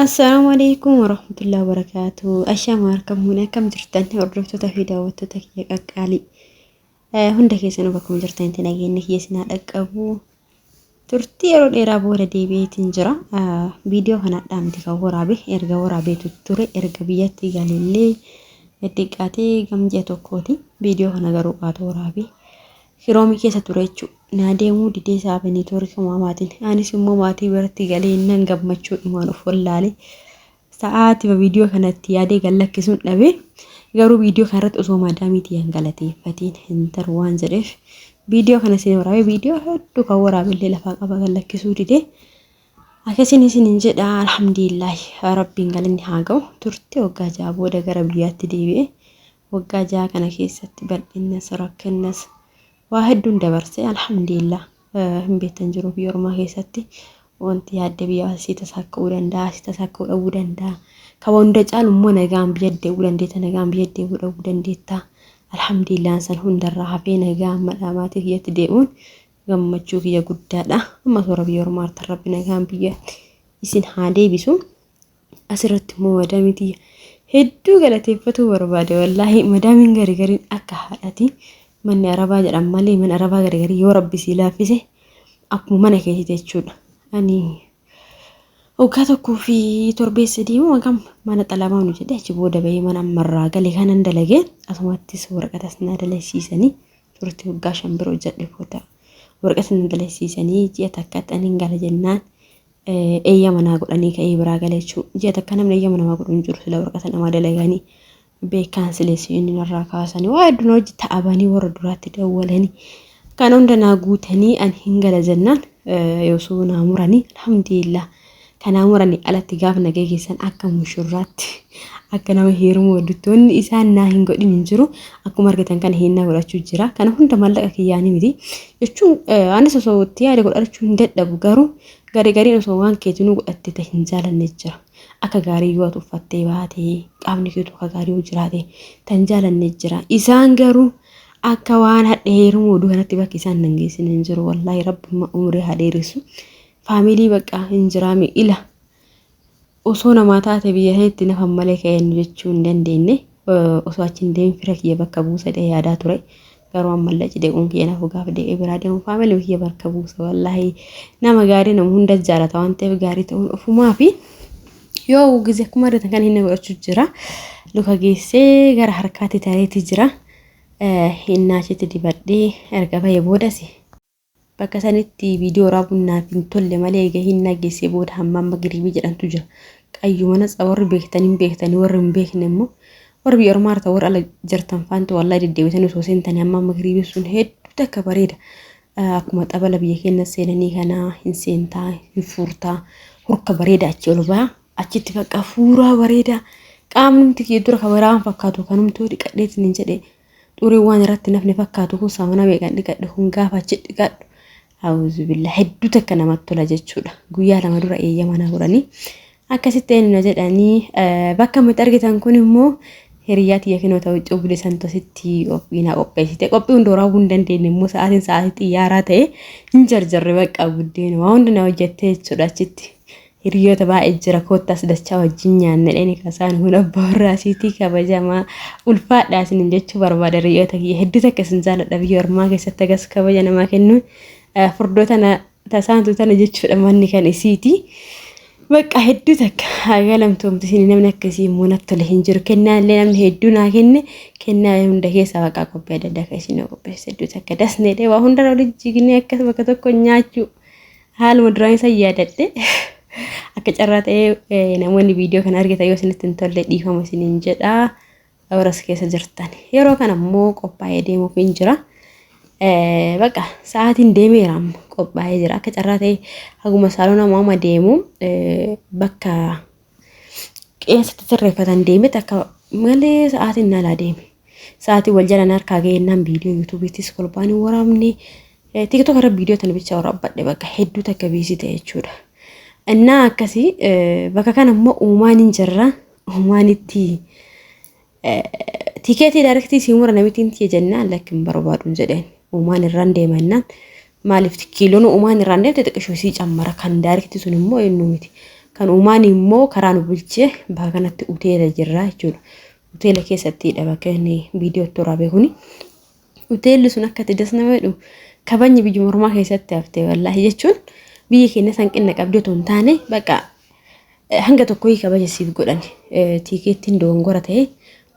Assalaamu alaikum warahmatullahi wabarakaatu. Ashaama harka muune akkam jirtan hordoftoota fi daawwattoota kiyya qaqqaalii. Hunda keessanuu bakkuma jirtanitti nageenya kiyya isin haa dhaqqabu. Turtii yeroo dheeraa booda deebi'eetiin jira. Viidiyoo kanadhaa miti kan waraabe erga waraabeetu ture erga biyyatti galillee xiqqaatee gamji'a tokkooti. Viidiyoo kana garuu qaatu waraabe. Hiroomii keessa ture jechuudha. Naa deemuu didee isaa Beneetoori kumaa maatiin. Anis immoo maatii biratti galee nan gammachuu dhumaan of wallaalee sa'aatima viidiyoo kanatti yaadee gad lakkisuun dhabe. Garuu viidiyoo kanarratti osoo maadaamiitii hin galateeffatiin hin taru waan jedheef viidiyoo kana isin waraabee viidiyoo hedduu kan waraabellee lafaa qaba gad lakkisuu didee. Akkasiin isin hin jedha alhamdulillahi rabbiin galanni haa ga'u turte waggaa ja'a booda gara biyyaatti deebi'e. Waggaa ja'a kana keessatti bal'innas rakkinnas waa hedduun dabarse alhamdulillah hin beektan jiru biyya ormaa keessatti wanti yaadde biyya asii tasaa ka'uu danda'a asii tasaa ka'uu dhabuu danda'a kan hunda caalu immoo nagaan biyya deebi'uu dandeetta nagaan biyya deebi'uu dhabuu dandeetta alhamdulillah san hundarraa hafee nagaan madhaa maatii kiyyatti deebi'uun gammachuu kiyya guddaadha amma toora biyya ormaatti rabbi nagaan biyya isin haa deebisu Asirratti immoo madaamii tiyya hedduu galateeffatuu barbaade wallaahi madaamiin gari gariin akka haadhati manni arabaa jedhan malee mana arabaa gari garii yoo rabbi sii laaffise akkuma mana keeti jechuudha. Ani waggaa tokkoo fi torbee sadii moo hagam mana xalamaa nu jedhe achi booda bahee mana ammarraa gale kanan dalage asumattis waraqatas na dalagsiisanii turte waggaa shan bira hojjedhe booda waraqas na dalagsiisanii ji'a takkatti anin gala jennaan eeyyama naa godhanii ka'ee biraa gala jechuudha. Ji'a takka namni eeyyama namaa godhu hin jiru sila waraqata namaa dalaganii beekaan sileessi inni narraa kaasanii waa hedduun hojii ta'abanii warra duraatti dawwalanii kan hunda naa guutanii an hin gala jennaan yoosuu naa muranii alhamdulillah kan naa muranii alatti gaafa na geessan akka mushurraatti akka nama heerumuu hojjettoonni isaan naa hin godhin hin jiru akkuma argitan kana hinnaa godhachuu jira kana hunda mallaqa kiyyaanii miti jechuun anis osoo itti yaade godhachuu hin dadhabu garuu. Gari gariin osoo waan keetinuu godhattee ta hin jaalanne jira. Akka gaarii yoo ati uffattee baate, qaamni keetu akka gaarii yoo jiraate ta hin jaalanne jira. Isaan garuu akka waan hadhe heeruma oduu kanatti bakki isaan nan geessine hin jiru. Wallaahi rabbumma umrii haa dheeressu. Faamilii bakka hin jiraame ila. Osoo namaa taate biyya sanitti nafan malee ka'eennu jechuu hin dandeenne. Osoo achi hin deemin fira kiyya bakka buusa jedhee yaadaa ture. Garuu ammallee achi deebi'uun kiyya nafu gaafa deebi'ee biraa deemu faamilii kiyya bakka buusa wallaahi. Nama gaarii nama hunda jaalata waan ta'eef gaarii ta'uun ofumaa fi yoo gize akkuma argatan kan inni godhachuu jira. Luka geessee gara harkaatti tareetii jira. Hinnaa achitti dibadhee erga bahee boodasi. Bakka sanitti viidiyoo waraabuun naaf hin tolle malee eega hin nageessee booda hammaan magriibii jedhantu jira. Qayyuma natsa warri beektan hin beektanii warri hin beekne immoo warri biyya ormaa irra warri ala jirtan faanti wallahi deddeebitanii osoo seentanii hammaan magriibii sun hedduu takka bareeda. Akkuma xabala biyya keenya seenanii kana hin seentaa hin fuurtaa hurka bareeda achi ol baa achitti bakka fuuraa bareeda qaamnumti kiyya dura kabaraa waan fakkaatu kanumtuu dhiqadheetiin hin jedhe Xuriin waan irratti nafne fakkaatu kun saamuna meeqan dhiqadhe kun gaafa achi dhiqadhu auzubillah hedduu takka namatti tola jechuudha. Guyyaa lama dura eeyyama na godhanii akkasitti eenyu na jedhanii bakka miti argitan kun immoo hiriyyaa tiyya kinoo ta'u cubli santositti qophii na qopheessite qophii hunda waraabuu hin dandeenye immoo sa'aatiin sa'aatii xiyyaaraa ta'e hin jarjarre bakka buddeen waa hunda na hojjette jechuudha achitti. Hiriyoota baay'ee jira koottaas dachaa wajjin nyaanna dheni kasaan kun abbaa warraa siitii kabajamaa ulfaadhaa isinin jechuu barbaada hiriyoota kiyya hedduu takka isin jaaladha biyya ormaa keessatti agas kabaja namaa kennuun furdoo tana tasaantu tana jechuudha manni kan isiiti. Bakka hedduu takka haga lamtoomti isin namni akka isii immoo natti tole hin jiru kennaa illee namni hedduu naa kenne kennaa hunda keessaa waaqaa qophii adda addaa kan isin qopheesse hedduu takka dasneedhe waa hundarra walitti jignee akka bakka tokko nyaachuu. Haaluma duraan isa yaadadhe akka carraa ta'ee namoonni viidiyoo kana argitan yoo isinitti hin tolle dhiifama isiniin jedha warras keessa jirtan. Yeroo kana immoo qophaa'ee deemuuf hin jira. Baqa sa'aatiin deemeera amma qophaa'ee jira akka carraa ta'ee haguma saalona amma deemu bakka qeensatti sirreeffatan deemetti akka malee sa'aatiin naalaa deeme. Sa'aatii wal jalaan harkaa ga'eennaan viidiyoo yuutuubiittis kolbaan hin waraabne. Tiktok irra viidiyoo tana bicha waraabbadhe bakka hedduu takka biisii ta'e jechuudha. Innaa akkasii bakka kana immoo uumaan hin jirra. Uumaan itti Tikeetii daarektii sii mura namitiin tiyya jennaan lakki hin barbaadun jedheen. Uumaan irraan deema jennaan maaliif kiiloon uumaan irraan deemte xiqqishoo sii cammara kan daarektii sun immoo eenyu miti. Kan uumaan immoo karaa nu bulchee bakka kanatti uteela jirra jechuudha. Uteela keessatti dha bakka inni viidiyoo itti waraabee kuni. Uteelli sun akka itti dasnama jedhu kabajni biyya mormaa keessatti hafte wallaahi jechuun biyya keenya hanqina qabdu otoo hin taane bakka hanga tokko kabaja siif godhan tiikeettiin dogongora ta'e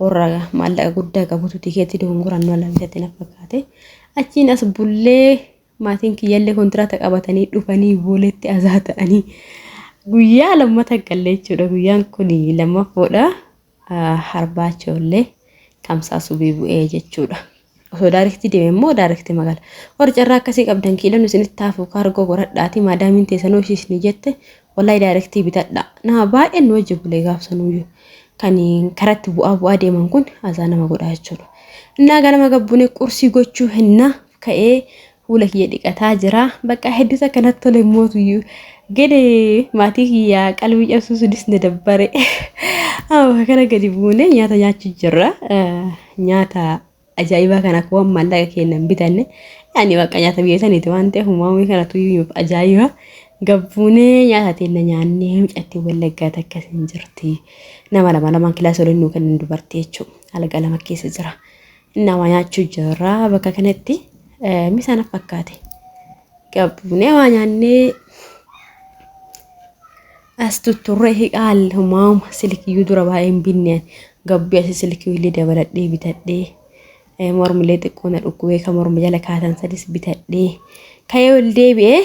warra maallaqa guddaa qabutu tiikeettii dogongoraan nu alaabisatti na fakkaate achiin as bullee maatiin kiyyallee kontiraata qabatanii dhufanii booletti azaa ta'anii guyyaa lammata galle jechuudha guyyaan kun lammaffoodha. harbaa ijoollee kamsaa subii bu'ee jechuudha. Osoo daarektii deeme immoo daarektii magala. Warri carraa akkasii qabdan kiilon isinitti hafu kaargoo godhadhaati maadaamiin teessanuu ishii isinii jette wallahi daarektii bitadha. Nama baay'een nu wajji bulee gaafsanuyyuu kan karatti bu'aa bu'aa deeman kun azaa nama godhaa jechuudha. Innaa ganama gabbune qursii gochuu hennaa ka'ee Fuula kiyya dhiqataa jira. Bakka hedduu takka natti tole mootuyyuu. Gede maatii kiyya qalbii cabsuu sunis na dabbare. Amma kana gadi buune nyaata nyaachuu jirra. Nyaata ajaa'ibaa kana akka waan maallaqa keenya hin bitanne. Yaani bakka nyaata biyya saniiti waan ta'eef uumamni kana tuyyuuf ajaa'iba. Gabbuunee nyaata teenna nyaannee mucatti wallaggaa takka hin jirti. Nama lama lamaan kilaasii waliin nuu kennan dubartii jechuudha. Alga lama keessa jira. Nama nyaachuu jirra bakka kanatti misaan fakkaate qabnee waa nyaannee as tutturree hiqaal maama silkiyyuu dura baay'een binne gabbii asi silkiyyuu illee dabaladhee bitadhee mormilee xiqqoo na dhukkubee kan morma jala kaatan sadis bitadhee ka'ee ol deebi'ee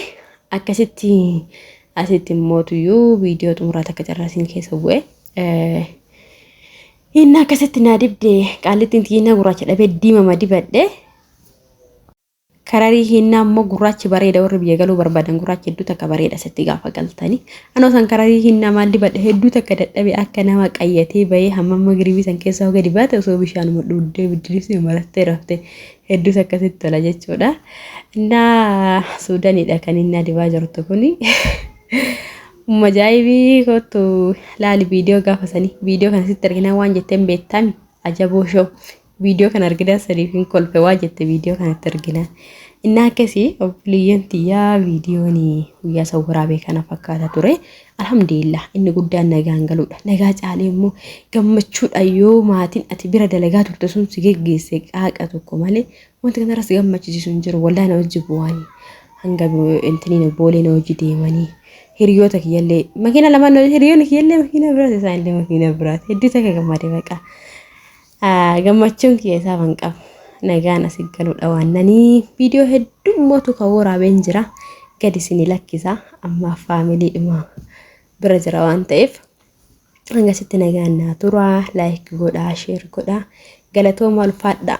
akkasitti asitti mootuyyuu viidiyoo xumuraa takka carraasiin keessa bu'e Hinna akkasitti naa dibde qaallittiin tiyyinna gurraacha dhabee diimama dibadhe. Kararii hinna ammoo gurraachi bareeda warri biyya galuu barbaadan gurraachi hedduu takka bareeda sitti gaafa galtani. Anoo san kararii hinna maal dibadhe hedduu takka dadhabe akka nama qayyatee bahee hamma amma giribii san keessa hoga dibaate osoo bishaanuma dhuuddee biddiriisni marattee rafte hedduu takka sitti tola jechuudha. Innaa suudaniidha kan innaa dibaa jirtu kuni. Umma ajaa'ibii kottu laali viidiyoo gaafa sanii viidiyoo kana sitti arginaan waan jetteen beektami ajaboo shoo viidiyoo kana arginaan saniif hin kolfe waa jette viidiyoo kanatti arginaan innaa akkasii obboleeyyan tiyyaa viidiyoon guyyaa san waraabee kana fakkaata ture alhamdulillah inni guddaan nagaan galuudha nagaa caalee immoo gammachuudha yoo maatiin ati bira dalagaa turte sun si geggeesse qaaqa tokko malee Wanti kanarras gammachiisu hin jiru. Wallahi na hojii bu'aanii. Hanga intiniin boolee na hojii deemanii. Hiriyoota kiyyallee makiina lama hiriyoonni kiyyallee makiina biraati isaan illee makiina biraati. Hedduu takka gammade baqa. Gammachuun kiyya isaa ban qabu. Nagaan asi galuudha waan nanii. Viidiyoo hedduu mootu kan waraabeen jira. Gadi isinii lakkisa. Amma faamilii dhuma bira jira waan ta'eef. Hanga sitti nagaan naa tura. Laayik godhaa, sheer godhaa. Galatoomaa ulfaadhaa.